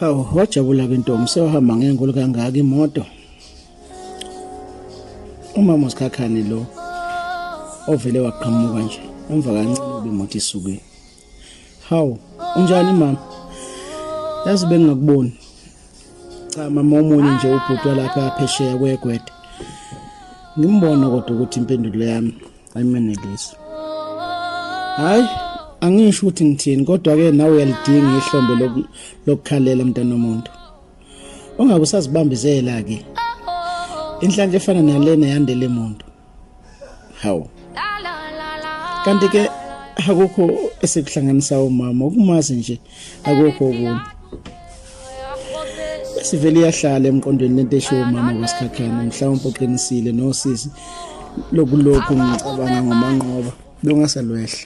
Hawu wajabula ke ntombi sewahamba ngenkulu kangaka imoto. Umama usikhakhane lo ovele waqhamuka nje emva kancane ubimoto isuke. Hawu unjani mama? Yazi bengingakuboni. Cha mama omunye nje ubhuti walapha phesheya kwegwede. Ngimbona kodwa ukuthi impendulo yami ayimenelisi hayi angisho ukuthi ngithini kodwa ke nawe uyalidinga ihlombe lokukhalela mntana omuntu ungabe usazibambizela ke inhlanhla efana nalena yandele muntu hawu kanti ke akukho esikuhlanganisa umama ukumazi nje akukho okunye sivele iyahlala emqondweni lento eshiwo umama kwasikhakhana mhlawumbe uqinisile nosisi lokulokhu ngicabanga ngomanqoba lungasalwehla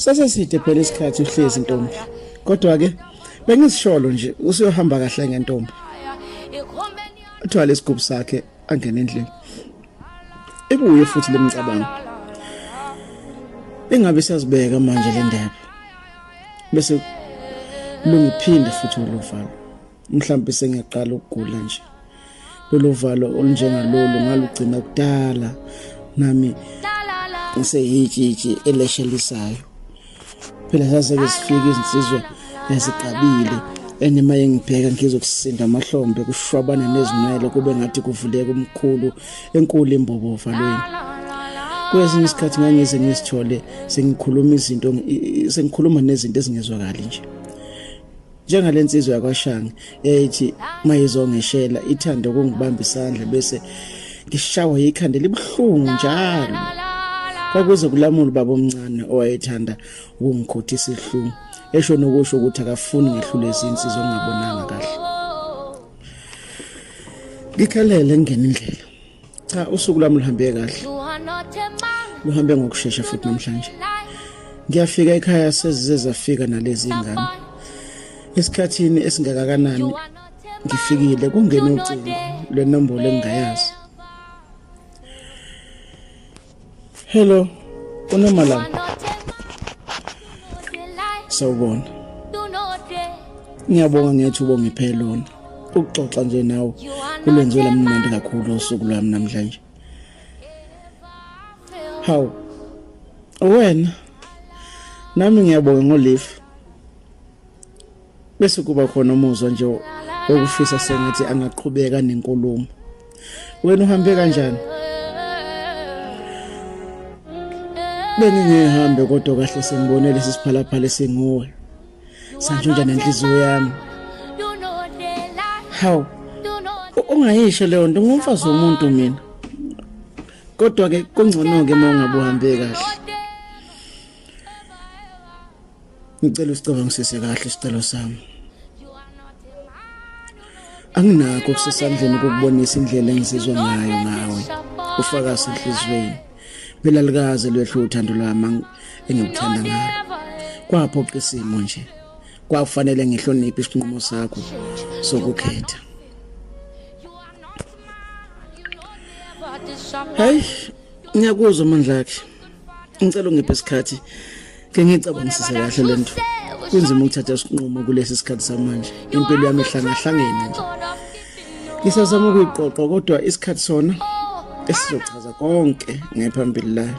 saseside phela isikhathi uhlezi ntombi kodwa ke bengizisholo nje usuyohamba kahle ngentombi uthwala isigubhu sakhe angena endlini ibuye futhi lemicabango engabe siyazibeka manje le ndaba bese lungiphinde futhi ulovalo mhlawumbe sengiyaqala ukugula nje lolu valo olunjengalolu ngalugcina kudala nami ngiseyitshitshi eleshelisayo phela saseke sifike izinsizwa ezigqabile enima yengibheka ngizokusinda amahlombe kushwabana nezinwele kube ngathi kuvuleka umkhulu enkulu imbobo valweni kwesinye isikhathi ngangize ngisithole sengikhuluma izinto sengikhuluma nezinto ezingezwakali nje njengale nsizwa yakwashange eyayithi mayizongeshela ithanda ukungibamba isandla bese ngishawa yikhanda libuhlungu njalo kwakuze kulamula ubaba omncane owayethanda ukungikhothisa isihlungu esho nokusho ukuthi akafuni ngehlule izinsizwa ngingabonanga kahle ngikhalele ngene indlela cha usuku lami luhambe kahle luhambe ngokushesha futhi namhlanje ngiyafika ekhaya sezize zafika nalezi ingane esikhathini esingakakanani ngifikile kungena ucingo lwenombolo engingayazi Hello. Unomalanga. Sawubona. Ngiyabonga ngethu ubongiphe lona. Ukuxoxa nje nawe kulwenze lamnandi kakhulu usuku lwami namhlanje. Hawu. Wena. Nami ngiyabonga ngolive. bese kuba khona umuzwa nje okufisa sengathi angaqhubeka nenkulumo wena uhambe kanjani bengingehambe kodwa kahle sengibone lesi siphalaphala esinguwe sanjunja nenhliziyo yami hawu ungayisho leyo nto ngumfazi womuntu mina kodwa ke kungcono ke uma ungabuhambe kahle ngicela usicabangisise kahle isicelo sami anginakho kusesandleni kokubonisa indlela engizizwa ngayo ngawe ufakazi enhlizweni phela likaze lwehlu uthando lwami engikuthanda ngalo kwaphoqa isimo nje kwakufanele ngihloniphe isinqumo sakho sokukhetha Hey, ngiyakuzwa amandla akhe. ngicela ungiphe isikhathi ke ngicabangisise kahle le nto kunzima ukuthatha isinqumo kulesi sikhathi samanje impilo yami ihlangahlangene nje ngisazama ukuyiqoqa kodwa isikhathi sona esizochaza konke ngephambili layo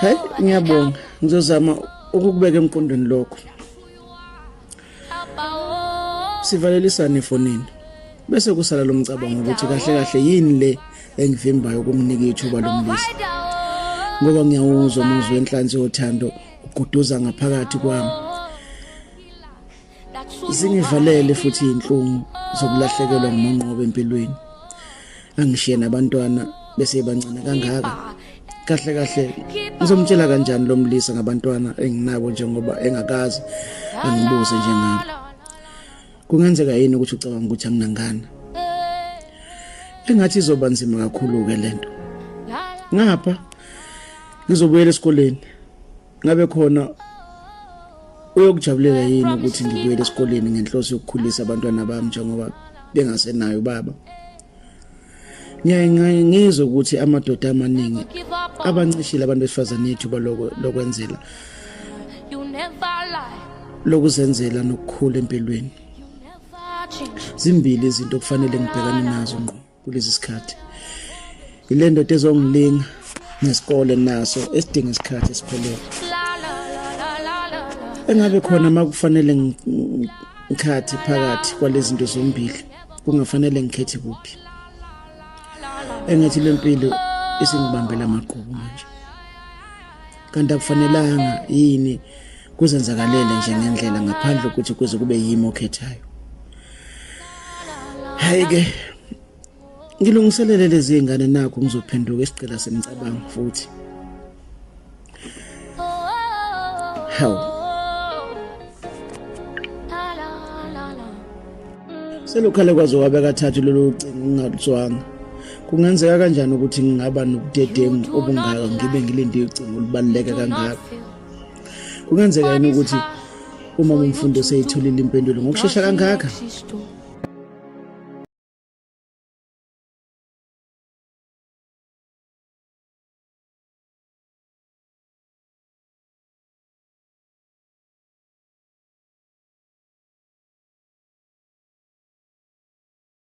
Hey ngiyabonga ngizozama ukukubeka emqondweni lokho. Sivalelisane efonini. Bese kusala lo mcabango ukuthi kahle kahle yini le engivimbayo ukumnika ithuba lomlisa. Ngoba ngiyawuzwa umuzwa wenhlanzi yothando uguduza ngaphakathi kwami. Zingivalele futhi inhlungu zokulahlekelwa ngumonqobo empilweni. Angishiye nabantwana bese bancane kangaka. Kahle kahle ngizomtshela kanjani lo mlisa ngabantwana enginabo njengoba engakazi angibuze njengami. Kungenzeka yini ukuthi ucabanga ukuthi anginangana? Engathi izoba nzima kakhulu ke lento. Ngapha ngizobuyela esikoleni. ngabe khona uyokujabulela yini ukuthi ngibuyele esikoleni ngenhloso yokukhulisa abantwana bami njengoba bengasenayo baba ngiyaye ngizwe ukuthi amadoda amaningi abancishile abantu besifazane ithuba lokwenzela lokuzenzela nokukhula empilweni zimbili izinto okufanele ngibhekane nazo ngqo kulezi sikhathi ile ndoda ezongilinga nesikole naso esidinga isikhathi esiphelele engabe khona uma kufanele ngikhathi phakathi kwalezi zinto zombili kungafanele ngikhethe kuphi engathi le mpilo isingibambela amagqubu manje kanti akufanelanga yini kuzenzakalele nje ngendlela ngaphandle ukuthi kuze kube yimi okhethayo hayi ke ngilungiselele lezi ngane nakho ngizophenduka isicela semcabango futhi hawu selukhale kwaze wabe kathathu lolu cingo ngingaluzwanga kungenzeka kanjani ukuthi ngingaba nobudedengu obungaka ngibe ngilinde icingo olubaluleke kangaka kungenzeka yini ukuthi uma umfundi oseyitholile impendulo ngokushesha kangaka